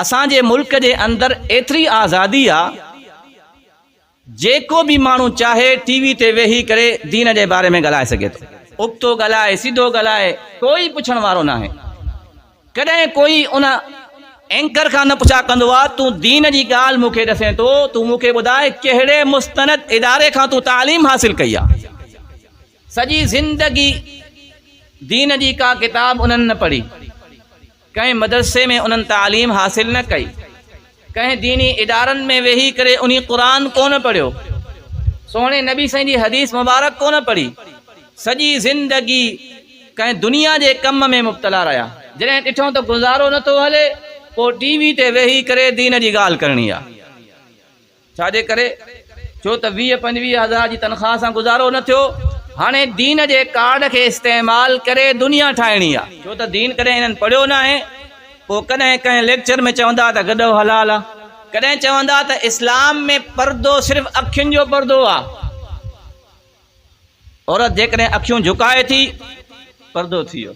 اسان جي ملڪ جي اندر ايتري آزادي آ جيڪو به ماڻهو چاهي ٽي وي تي ويهي ڪري دين جي باري ۾ ڳالهائي سگهي ٿو ابتو ڳالهائي سڌو ڳالهائي ڪوئي پڇڻ وارو ناهي ڪڏهن ڪوئي ان اينڪر کان نه پڇا ڪندو آ تون دين جي ڳالهه مون کي ڏسين ٿو تون مون کي ٻڌاء ڪهڙي مستند اداري کان تون تعليم حاصل ڪئي آ سڄي زندگي دين جي ڪا ڪتاب انهن نه پڙهي. ڪنهن مدرسي ۾ انهن تعليم حاصل نه ڪئي، ڪنهن ديني ادارن ۾ ويهي ڪري انهي قرآن ڪونه پڙهيو، سهڻي نبي صلعم جي حديث مبارڪ ڪونه پڙهي، سڄي زندگي ڪنهن دنيا جي ڪم ۾ مبتلا رهيا. جڏهن ڏٺو ته گذارو نه ٿو هلي، پوء ٽي وي تي ويهي ڪري دين جي ڳالهه ڪرڻي آ. ڇا جي ڪري؟ ڇو ته ويهه پنجويهه هزار جي تنخواه سان گذارو نه ٿيو، هاڻي دين جي ڪارڊ کي استعمال ڪري دنيا ٺاهڻي آ. ڇو ته دين ڪڏهن هنن پڙهيو ناهي، پوء ڪڏهن ڪنهن ليڪچر ۾ چوندا ته گڏهو حلال آ، ڪڏهن چوندا ته اسلام ۾ پردو صرف اکين جو پردو آ، عورت جيڪڏهن اکيون جهڪائي ٿي، پردو ٿي ويو.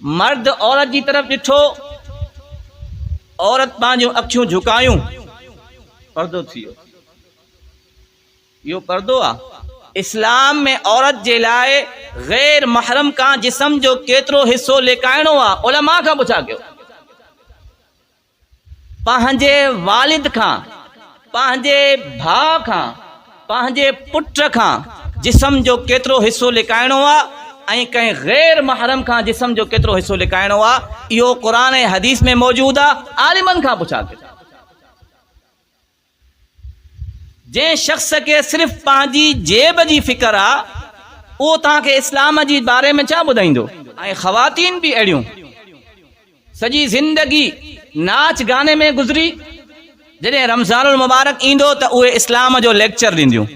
مرد عورت جي طرف ڏٺو، عورت پنهنجون اکيون جهڪايون، پردو ٿي ويو. اهو پردو آ؟ اسلام ۾ عورت جي لاء غير محرم کان جسم جو ڪيترو حصو لڪائڻو آ؟ علماء کان پڇا ڪيو. پنهنجي والد کان، پنهنجي ڀاء کان، پنهنجي پٽ کان جسم جو ڪيترو حصو لڪائڻو آ ۽ ڪنهن غير محرم کان جسم جو ڪيترو حصو لڪائڻو آ اهو قرآن ۽ حديث ۾ موجود آ عالمن کان پڇا ڪيو. جنهن شخص کي صرف پنهنجي جيب جي فڪر آ اهو توهان کي اسلام جي باري ۾ ڇا ٻڌائيندو. ۽ خواتين به اهڙيون سڄي زندگي ناچ گاني ۾ گذري جڏهن رمضان المبارڪ ايندو ته اهي اسلام جو ليڪچر ڏينديون.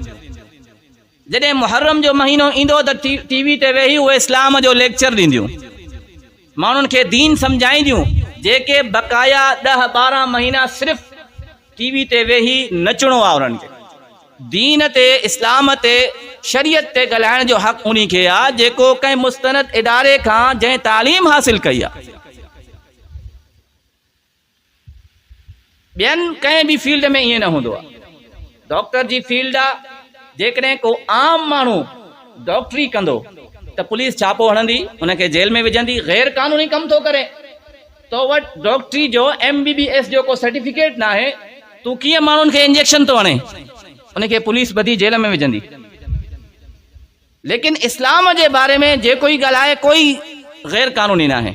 جڏهن محرم جو مهينو ايندو ته ٽي وي تي ويهي اهي اسلام جو ليڪچر ڏينديون، ماڻهن کي دين سمجهائينديون، جيڪي بقايا ڏهه ٻارهن مهينا صرف ٽي وي تي ويهي نچڻو آهي انهن کي دين تي، اسلام تي، شريعت تي ڳالهائڻ جو حق انهي کي آهي جيڪو ڪنهن مستند اداري کان جنهن تعليم حاصل ڪئي آهي. ٻين ڪنهن به فيلڊ ۾ ائين نه هوندو آهي. ڊاڪٽر جي فيلڊ آهي، جيڪڏهن ڪو عام ماڻهو ڊاڪٽري ڪندو ته پوليس ڇاپو هڻندي، ان کي جيل ۾ وجهندي، غير قانوني ڪم ٿو ڪرين، تو وٽ ڊاڪٽري جو ايم بي بي ايس جو ڪو سرٽيفڪيٽ ناهي، تون ڪيئن ماڻهن کي انجيڪشن ٿو هڻين، ان کي پوليس ٻڌي جيل ۾ وجهندي. ليڪن اسلام جي باري ۾ جيڪو ئي ڳالهائي ڪوئي غير قانوني ناهي.